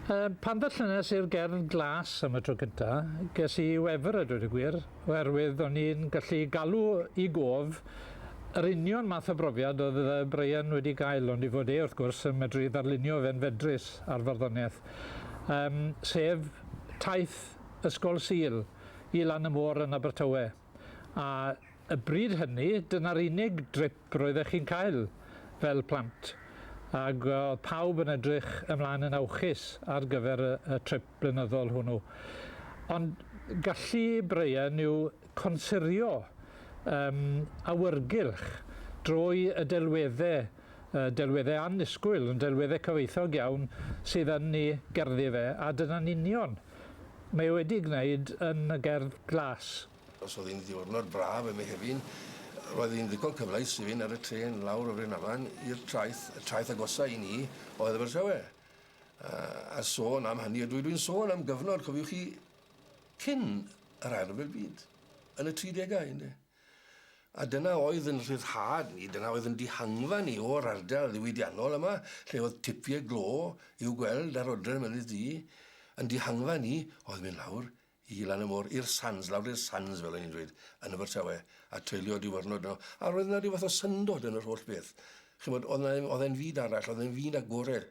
Yym, pan ddarllenes i'r gerdd glas am y tro cynta, ges i wefr a dweud y gwir, oherwydd o'n i'n gallu galw i gof yr union math o brofiad oedd yy Brian wedi gael, ond i fod e, wrth gwrs, yn medru ddarlunio fe'n fedrus ar farddoniaeth. Yym, sef taith Ysgol Sul i lan y môr yn Abertawe. a y bryd hynny dyna'r unig drip roeddech chi'n cael fel plant ac oedd pawb yn edrych ymlaen yn awchus ar gyfer y, y trip blynyddol hwnnw. Ond gallu Brian yw consirio um, awyrgylch drwy y delweddau uh, delweddau annisgwyl, yn delweddau cyfoethog iawn sydd yn ni gerddi fe, a dyna'n union Mae e wedi gwneud yn y gerdd glas. Os oedd hi'n ddiwrnod braf ym Mehefin, roedd hi'n ddigon cyfleus i fynd ar y trên lawr o Rhynaman i'r traeth, y traeth agosa' i ni oedd Abertawe. A, a sôn am hynny, dw, dwi'n sôn am gyfnod, cofiwch chi, cyn yr Ail Ryfel Byd, yn y tridegau, ynde. A dyna oedd yn rhyddhad ni, dyna oedd yn dihangfa ni o'r ardal ddiwydiannol yma, lle oedd tipiau glo i'w gweld ar odre'r Mynydd Du. Yn dihangfa ni oedd mynd lawr i lan y môr, i'r sands, lawr i'r sands fel o'n i'n dweud, yn Abertawe, a treulio diwrnod yno. A roedd yna ryw fath o syndod yn yr holl beth. Chimod, oedd yna ddim... oedd e'n fyd arall, oedd e'n fyd agored.